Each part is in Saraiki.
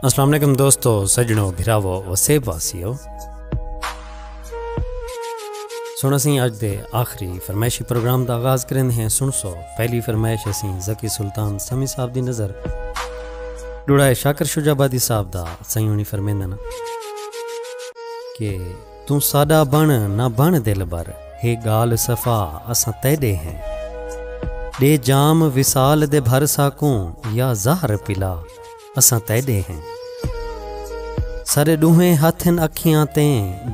السلام علیکم دوستو سجنو بھراو وسیب واسیو سن اسیں اج دے آخری فرمائشی پروگرام دا آغاز کریں ہیں سن سو پہلی فرمائش اسیں زکی سلطان سمی صاحب دی نظر ڈوڑائے شاکر شجابادی صاحب دا سیونی فرمیندن کہ توں ساݙا بݨ نہ بݨ دلبر ہے ڳالھ صفا اساں تیݙے ہیں ݙے جام وصال دے بھر ساکوں یا زہر پلا اساں تیݙے ہیں ساݙے ݙوہیں ہتھ ہن اکھیاں تے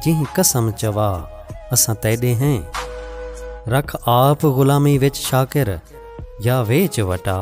جیں قسم چوا اساں تیݙے ہیں رکھ آپ غلامی وچ شاکر یا ویچ وٹا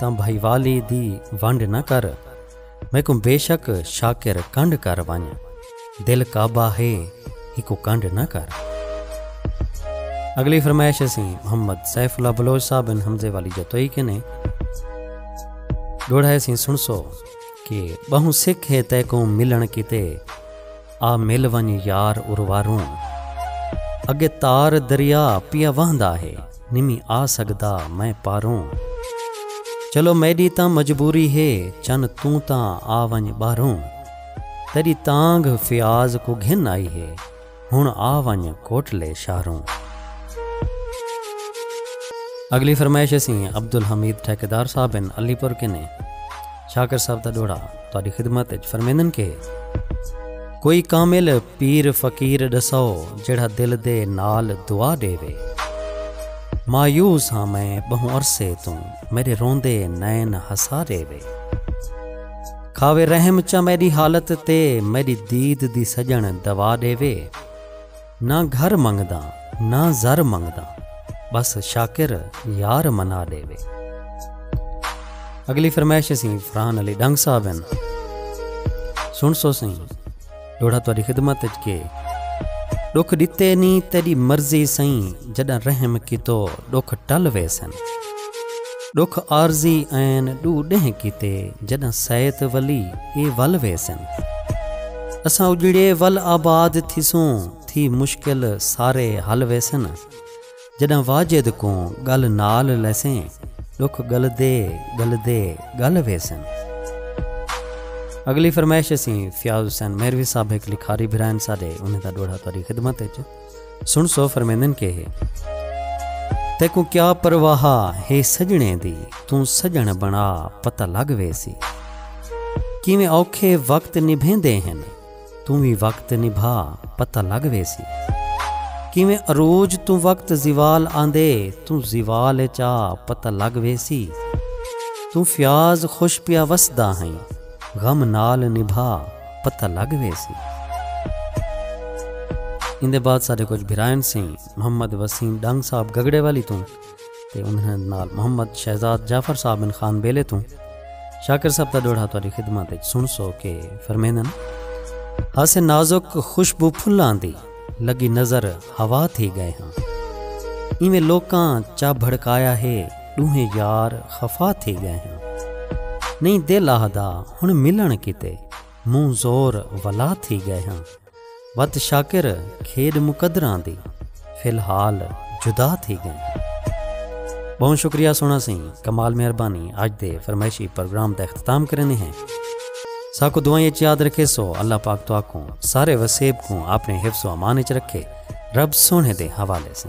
تاں بھائیوالی دی ونڈ نہ کر میکوں بے شک شاکر کنڈ کر ونج دل کعبہ ہے ہکو کنڈ نہ کر۔ اگلی فرمائش اسی محمد سیف اللہ بلوچ صاحب بن حمزے والی جتوئی کنے ڈوڑھا اسی سنسو کہ بہوں سکھ ہے تیکوں ملن کیتے۔ آ مل ونج یار ارواروں۔ اگے تار دریا پیا وہندا ہے نمی آ سگدا میں پاروں۔ چلو میڈی تاں مجبوری ہے چن توں تاں آ ونج باہروں۔ تیڈی تانگھ فیاض کوں گھن آئی ہے ہن آ ونج کوٹلے شاہروں۔ اگلی فرمائش اسیں عبدالحمید ٹھیکیدار صاحب ہن علی پور کنے۔ چھاکر صاحب دا ݙوہڑا تہاݙی خدمت اچ فرمیندن کہ کوئی کامل پیر فقیر ݙسو جیڑھا دل دے نال دعا ݙیوے مایوس ہاں میں ٻہوں عرصے توں میݙے روندے نین ہسا ݙیوے کھاوے رحم چا میݙی حالت تے میݙی دید دی سڄݨ دوا ݙیوے۔ نہ گھر منگداں نہ زر منگداں بس شاکر یار منا ڈیوے۔ اگلی فرمائش اسی فرحان علی ڈنگ صاحب ہیں سن سو سی ڈوڑا تاری خدمت اچ کے ڈکھ ڈتے نی تیری مرضی سائیں جڈاں رحم کیتو ڈکھ ٹل ویسن۔ ݙکھ عارضی عین ݙو ݙینھ کیتے جݙاں سید ولی اے ول ویسن اساں اڄڑے ول آباد تھیسوں تھی مشکل سارے حل ویسن جݙاں واجد کوں ڳل نال لیسیں ݙکھ ڳلدے ڳلدے ڳل ویسن۔ اڳلی فرمائش اسیں فیاض حسین میروی صاحب ہک لکھاری بھرا ہن ساݙے انہیں دا ݙوہڑا تہاݙی خدمت اچ۔ سن سو فرمیندن کہ تیکوں کیا پرواہ ہے سجنے دی توں سجن بنا پتہ لگ ویسی کیویں اوکھے وقت نبھیندے ہیں توں بھی وقت نبھا پتہ لگ ویسی کیویں عروج توں وقت زوال آندے توں زوال چا پتہ لگ ویسی توں فیاض خوش پیا وسدا ہیں غم نال نبھا پتہ لگ ویسی۔ ایندے بعد ساڈے کچھ بھرائن سے محمد وسیم ڈنگ صاحب گگڑے والی توں تے انہاں نال محمد شہزاد جعفر صاحب بن خان بیلے توں شاکر صاحب دا ڈوہڑہ تہاڈی خدمت وچ سنسو کہ فرمیندن۔ ہاسے نازک خوشبو پھلاں دی لگی نظر ہوا تھی گئے ہاں۔ ایویں لوکاں چا بھڑکایا ہے۔ ݙوہیں یار خفا تھی ڳئے ہن نئیں دل آہدا ہݨ ملݨ کیتے مونہہ زور ولا تھی ڳئے ہن وت شاکر کھیݙ مقدراں دی فی الحال جدا تھی ڳئے ہن بہوں شکریہ سونا سی کمال مہربانی اج دے فرمائشی پروگرام دا اختتام کرنے ہیں ساکو دعائیں اچ یاد رکھے سو اللہ پاک تو آکوں سارے وسیب کوں اپنے حفظ و امان اچ رکھے رب سونے دے حوالے سے